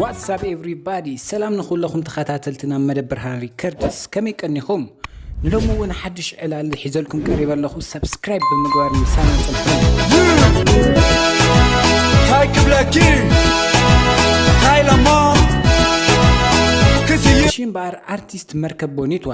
ዋትሳፕ ኤቭሪባዲ ሰላም ንኩለኹም ተኸታተልትና መደብ ብርሃን ሪከርድስ ከመይ ቀኒኹም ንሎሚ እውን ሓድሽ ዕላል ሒዘልኩም ቀሪበ ኣለኹ ሰብስክራይብ ብምግባር ምሳና ፅንሑ ታይ ክብለኪ ታይ ለሞ ክስይ እሺ እምበኣር ኣርቲስት መርከብ ቦኒትዋ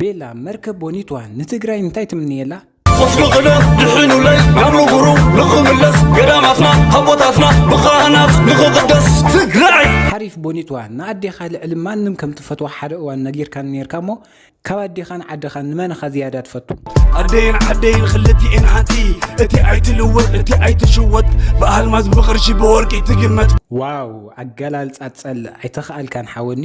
ቤላ መርከብ ቦኒትዋ ንትግራይ እንታይ ትምንየላ? ኹፍሉ ኽለኽ ድሕኑለይ ናብ ንቡሩ ንኽምለስ ገዳማትና ኣቦታትና ብኻህናት ንኽቕደስ ትግራይ ሓሪፍ ቦኒትዋ ንኣዴኻ ልዕሊ ማንም ከም ትፈትዋ ሓደ እዋን ነጊርካኒ ኔርካ እሞ ካብ ኣዴኻን ዓድኻን ንመን ኢኻ ዝያዳ ትፈቱ? ኣደይን ዓደይን ኽልቲኤን ሓንቲ እቲ ኣይትልወጥ እቲ ኣይትሽወጥ ብኣልማዝ ብቕርሺ ብወርቂ ትግመት። ዋው ኣገላልጻ ትጸልእ ኣይተኻኣልካን ሓወኒ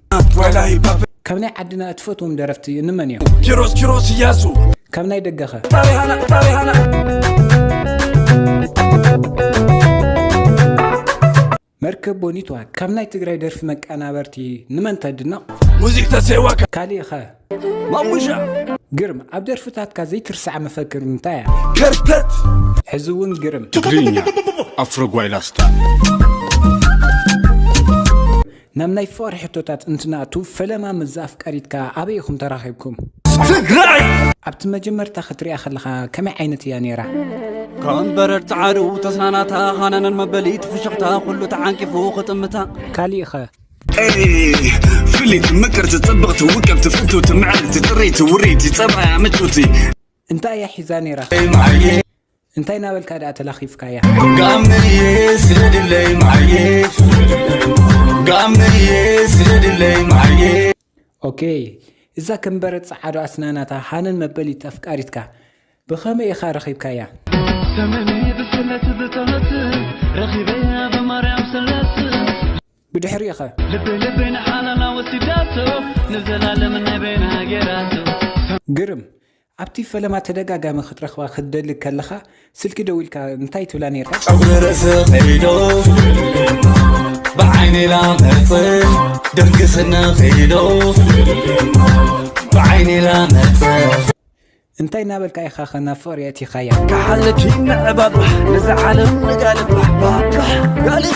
ካብ ናይ ዓድና እትፈትዎም ደረፍቲ እንመን እዮም ኪሮስ ኪሮስ እያሱ ካብ ናይ ደገኸ ጣሪሃና ጣሪሃና መርከብ ቦኒትዋ ካብ ናይ ትግራይ ደርፊ መቀናበርቲ ንመን ተድነቕ ሙዚክ ተሴዋ ካሊእ ኸ ማሙሻ ግርም ኣብ ደርፍታትካ ዘይትርሳዕ መፈክር እንታይ እያ ከርተት ሕዚ እውን ግርም ትግርኛ ኣፍሮ ጓይላስታ ናብ ናይ ፍቅሪ ሕቶታት እንትንኣቱ ፈለማ ምዛ ኣፍቃሪትካ ኣበይ ኢኩም ተራኪብኩም? ትግራይ! ኣብቲ መጀመርታ ክትሪኣ ከለካ ከመይ ዓይነት እያ ነይራ? ከም በረድ ጸዓዱ ተስናናታ ሃነነን መበሊት ፍሽኽታ ኩሉ ተዓንቂፉ ክጥምታ ካሊእኸ ፍሊት ምቅርቲ ጽብቕቲ ውቅብቲ ፍትውቲ ምዕርቲ ጥሪቲ ውሪቲ ጸባያ ምቹቲ እንታይ እያ ሒዛ ነይራ እንታይ እናበልካ ድኣ ተላኺፍካያ። ጋመየ ስደድለይ መዓየ ጋመየ ስደድለይ መዓየ ኦኬይ እዛ ከም በረድ ጸዓዶ ኣስናናታ ሃነን መበሊት ኣፍቃሪትካ ብኸመይ ኢኻ ረኺብካያ? ተመንየ ብስለት ብተመት ረኺበያ ብማርያም ስለስ ብድሕሪኡኸ ልበይ ልበይ ንሓላላ ወሲዳቶ ንዘላለም ናይ በይና ገይራቶ ግርም ኣብቲ ፈለማ ተደጋጋሚ ክትረኽባ ክትደሊ ከለኻ ስልኪ ደዊልካ እንታይ ትብላ ኔርካ? ጸጉሪ ርእሲ ኺዶ ብዓይኒ ላመጽእ ድርግስኒ ኺዶ ብዓይኒ ላመጽእ እንታይ እናበልካ ኢኻ ከ ናብ ፍቕሪ የእቲኻያ? ክሓልፍ ይምዕባባ ነዚ ዓለም ንጋልባ ባባ ጋልባ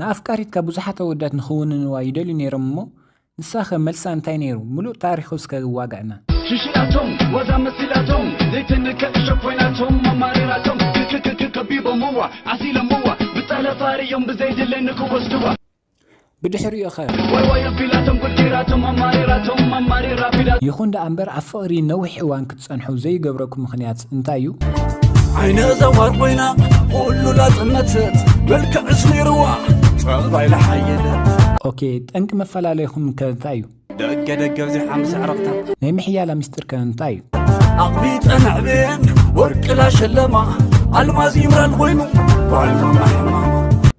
ንኣፍቃሪትካ ብዙሓት ኣወዳት ንኽውንንዋ ይደልዩ ነይሮም እሞ ንሳኸ መልሳ እንታይ ነይሩ ምሉእ ታሪኹ እስከ ዋግዕና። ሽሽላቶም ዋዛ መሲላቶም ዘይትንከ እሾክ ኮይናቶም ኣማሪራቶም ክክክክ ከቢቦምዋ ዓሲሎምዋ ብጠለፍ ኣርእዮም ብዘይድለ ንክወስድዋ ብድሕሪኡኸ? ዋይ ዋይ ኣቢላቶም ጉድ ገይራቶም ኣማሪራቶም ኣማሪራ ኣቢላቶም። ይኹን ደኣ እምበር ኣብ ፍቕሪ ነዊሕ እዋን ጸንሑ ዘይገብረኩ ምኽንያት እንታይ እዩ? ዓይነ ዘዋር ኮይና ኩሉ ላጽነትት መልክዕስ ነይርዋ ጸባይ ለሓየለት ኦኬ ጠንቂ መፈላለይኹም ከ እንታይ እዩ? ደገ ደገ ኣብዚሓ ምስ ኣዕርኽታ ናይ ምሕያላ ምስጢር ከ እንታይ እዩ? ኣቕቢጠን ኣዕብየን ወርቂ ላሸለማ ኣልማዝ ይምራን ኮይኑ ጓል መማሕማ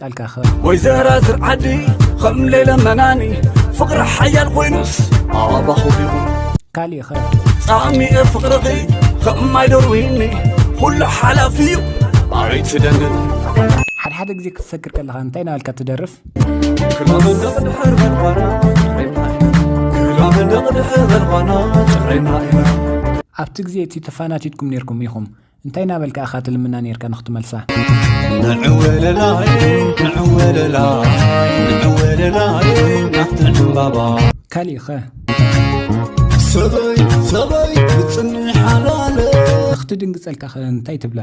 ቃልካ ክብ ወይ ዘራዝር ዓዲ ኸም ሌለ መናኒ ፍቕሪ ሓያል ኮይኑስ ኣባኹ ይኹን ካልእ ኸ ጻሚኤ ፍቕርኺ ኸም ማይዶርዊኒ ኹሉ ሓላፊ እዩ ኣይትደንን ሓድሓደ ግዜ ክትሰክር ከለኻ እንታይ ናበልካ ትደርፍ ክላመንደቕ ድሕር በልኳና ጭዕሪምና ክላመንደቕ ድሕር በልኳና ጭዕሪምና ኢና ኣብቲ ግዜ እቲ ተፋናቲትኩም ነርኩም ኢኹም እንታይ ናበልካ ኢኻ ትልምና ኔርካ ንኽትመልሳ? ካሊእኸ? ንኽትድንግጸልካ ከ እንታይ ትብላ?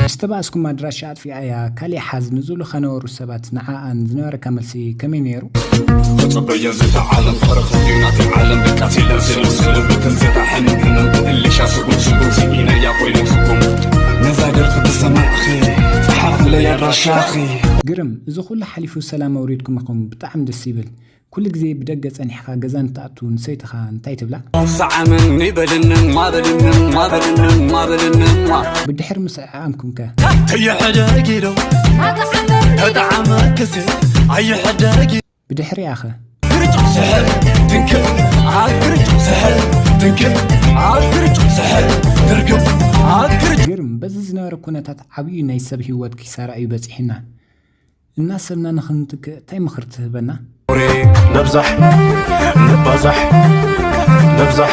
ምስ ተባእስኩም ኣድራሻኣ ኣጥፊኣያ ካሊእ ሓዝ ንዝብሉ ከነበሩ ሰባት ንዓኣ ዝነበረካ መልሲ ከመይ ነይሩ? ተጸበየን ዝታ ዓለም ፈረኽን ድዩ ናተይ ዓለም ደቃ ሲለን ስልም ስልም ብትን ዘታ ሕንም ሕንም ብእልሻ ስጉም ስጉም ስኢነያ ኮይነ ትርጉም ነዛ ደርፊ ብሰማዕኺ ጸሓፍለይ ኣድራሻኺ ግርም እዚ ኩሉ ሓሊፉ ሰላም ኣውሪድኩም ኢኹም ብጣዕሚ ደስ ይብል ኩሉ ግዜ ብደገ ጸኒሕካ ገዛ እንትኣቱ ንሰይትኻ እንታይ ትብላ? ሳዓመኒ በልንማ በልንማ በልንማ በልንማ ብድሕሪ ምስዕዓምኩም ከ? ከይሕደጊ ዶ ተጣዓመክሲ ኣይሕደጊ ብድሕሪኣ ከ? ግርጭ ስሕል ትንክእ ኣብ ግርጭ ስሕል ትንክእ ኣብ ግርጭ ስሕል ትርግብ ኣብ ግርጭ ግርም በዚ ዝነበረ ኩነታት ዓብዩ ናይ ሰብ ሂወት ኪሳራ እዩ በጺሑና። እናሰብና ንኽንትክእ ታይ ምኽሪ ትህበና? ኦሬ ነብዛሕ ንባዛሕ ነብዛሕ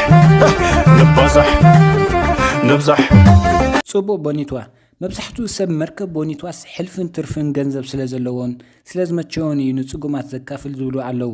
ንባዛሕ ነብዛሕ። ጽቡቕ ቦኒትዋ፣ መብዛሕትኡ ሰብ መርከብ ቦኒትዋስ ሕልፍን ትርፍን ገንዘብ ስለዘለዎን ስለዝመቸዎን እዩ ንጽጉማት ዘካፍል ዝብሉ ኣለዉ።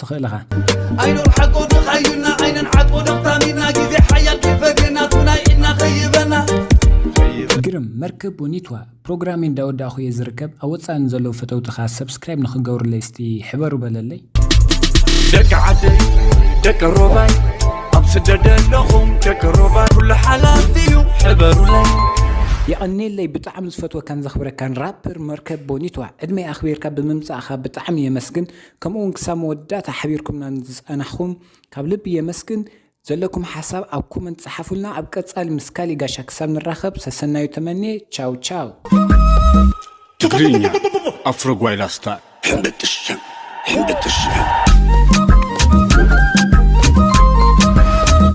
ትኽእል እኻ። ኣይኖር ሓቆ ድኻዩና ዓይነን ዓጥቦ ደኽታሚና ግዜ ሓያል ከይፈገና ትናይ ኢድና ከይበና ግርም መርከብ ቦኒትዋ ፕሮግራመይ እንዳወዳእኹ እየ ዝርከብ ኣብ ወፃኢ ንዘለዉ ፈተውትኻ ሰብስክራይብ ንክገብሩለይ እስቲ ሕበሩ በለለይ ደቂ ዓደይ ደቂ ሮባይ ኣብ ስደት ኣለኹም ደቂ ሮባይ ኩሉ ሓላፍ እዩ ሕበሩለይ የቐኔለይ ብጣዕሚ ዝፈትወካን ዘኽብረካን ራፐር መርከብ ቦኒትዋ ዕድመይ ኣኽቢርካ ብምምፃእኻ ብጣዕሚ የመስግን ከምኡውን ክሳብ መወዳእታ ሓቢርኩምና ንዝጸናሕኩም ካብ ልቢ የመስግን። ዘለኩም ሓሳብ ኣብ ኮመንት ጸሓፉልና። ኣብ ቀጻሊ ምስ ካሊእ ጋሻ ክሳብ ንራኸብ ሰሰናዩ ተመንየ። ቻው ቻው። ትግርኛ ኣፍሮ ጓይላ ስታይል ሕምብጥሽም ሕምብጥሽም